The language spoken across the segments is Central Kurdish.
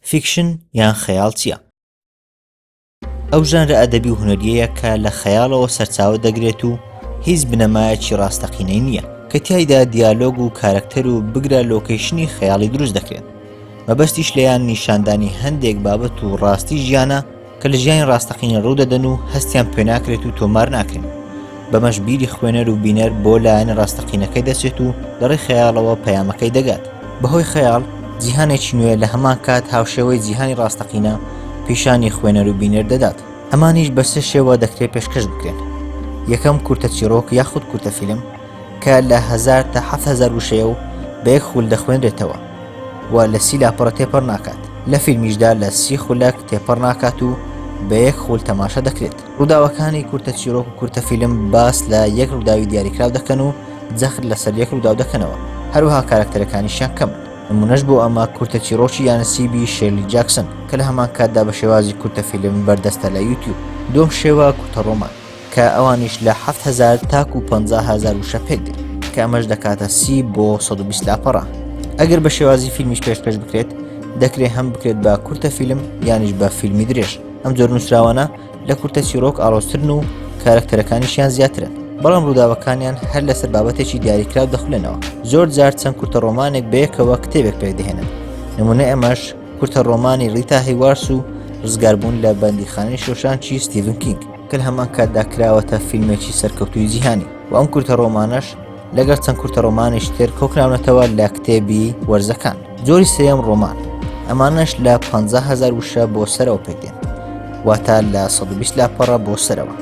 فیکشن یان خەیاڵ چییە؟ ئەو ژانرە ئەدەبی و هونەریەیە کە لە خەیاڵەوە سەرچاوە دەگرێت و هیچ بنەمایەکی ڕاستەقینەی نییە کە تایدا دیالۆگ و کارەکتەر و بگرە لۆکەیشنی خەیاڵی دروست دەکرێت مەبەستیش لەیان نیشاندانی هەندێک بابەت و ڕاستی ژیانە کە لە ژیانی ڕاستەقینە ڕوودەدەن و هەستیان پێناکرێت و تۆمار ناکرێن بەمەش بیری خوێنەر و بینەر بۆ لایەنە ڕاستەقینەکەی دەچێت و لەڕێ خەیاڵەوە پەیامەکەی دەگات بەهۆی خەیاڵ جیهانێکی نوێ لە هەمان کات هاوشێوەی جیهانی ڕاستەقینە پیشانی خوێنەر و بینەر دەدات ئەمانیش بە سێ شێوە دەکرێت پێشکەش بکرێن یەکەم کورتە چیڕۆک یاخود کورتە فیلم کە لە هەزار تا حەفت هەزار وشەیە و بە یەک خول دەخوێنرێتەوە و لە سی لاپەڕە تێپەڕ ناکات لە فیلمیشدا لە سی خولەک تێپەڕ ناکات و بە یەک خول تەماشا دەکرێت ڕووداوەکانی کورتە چیرۆک و کورتە فیلم باس لە یەک ڕووداوی دیاریکراو دەکەن و جەخت لەسەر یەک ڕووداو دەکەنەوە هەروەها کارکتەرەکانیشیان کەم نمونەش بۆ ئەمە کورتە چیرۆکی یانەسیبی شێلی جاکسن کە لە هەمان کاتدا بە شێوازی کورتە فیلم بەردەستە لە یوتیوب دووەم شێوە کورتە ڕۆمان کە ئەوانیش لە حەفت هەزار تاکو پەنجا هەزار وشە پێک دێن کە ئەمەش دەکاتە سی بۆ 120 لاپەڕە ئەگەر بە شێوازی فیلمیش پێش پێش بکرێت دەکرێت هەم بکرێت بە کورتە فیلم یانیش بە فیلمی درێژ ئەم جۆر نووسراوانە لە کورتە چیرۆک ئاڵۆسترن و کارکتەرەکانیشیان زیاترن بەڵام ڕووداوەکانیان هەر لەسەر بابەتێکی دیاریکراو دەخولێنەوە زۆر جار چەند کورتە ڕۆمانێک بەیەکەوە کتێبێک پێکدەهێنن نمونە ئەمەش کورتە ڕۆمانی ڕیتا هیوارس و ڕزگاربوون لە بەندیخانەی شۆشانچی ستیڤن کینگ کە لە هەمان کاتدا کراوەتە فیلمێکی سەرکەوتوی جیهانی و ئەم کورتە ڕۆمانەش لەگەر چەند کورتە ڕۆمانیش تر کۆکراونەتەوە لە کتێبی وەرزەکان جۆری سێم ڕۆمان ئەمانش لە 500هزار وشە بۆ سەرەوە پێکدێن واتە لە 120 لاپەڕە بۆ سەرەوە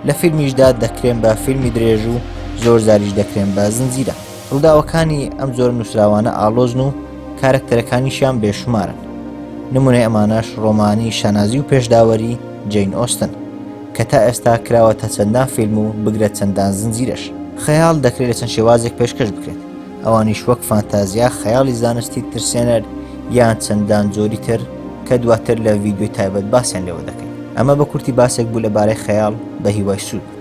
لە فیلمیشدا دەکرێن بە فیلمی درێژ و زۆر زاریش دەکرێن بە زنجیرە ڕووداوەکانی ئەم جۆرە نووسراوانە ئاڵۆزن و کارەکتەرەکانیشیان بێشومارن، نموونەی ئەمانەش ڕۆمانی شانازی و پێشداوەری جەین ئۆستن، کە تا ئێستا کراوەتە چەندان فیلم و بگرە چەندان زنجیرەش. خەیاڵ دەکرێت لە چەند شێوازێک پێشکەش بکرێت، ئەوانیش وەک فانتازیا، خەیاڵی زانستی ترسێنەر، یان چەندان جۆری تر، کە دواتر لە ڤیدیۆی تایبەت باسیان لێوە دەکەین. ئەمە بە کورتی باسێک بوو لەبارەی خەیاڵ، بەهیوای سوود.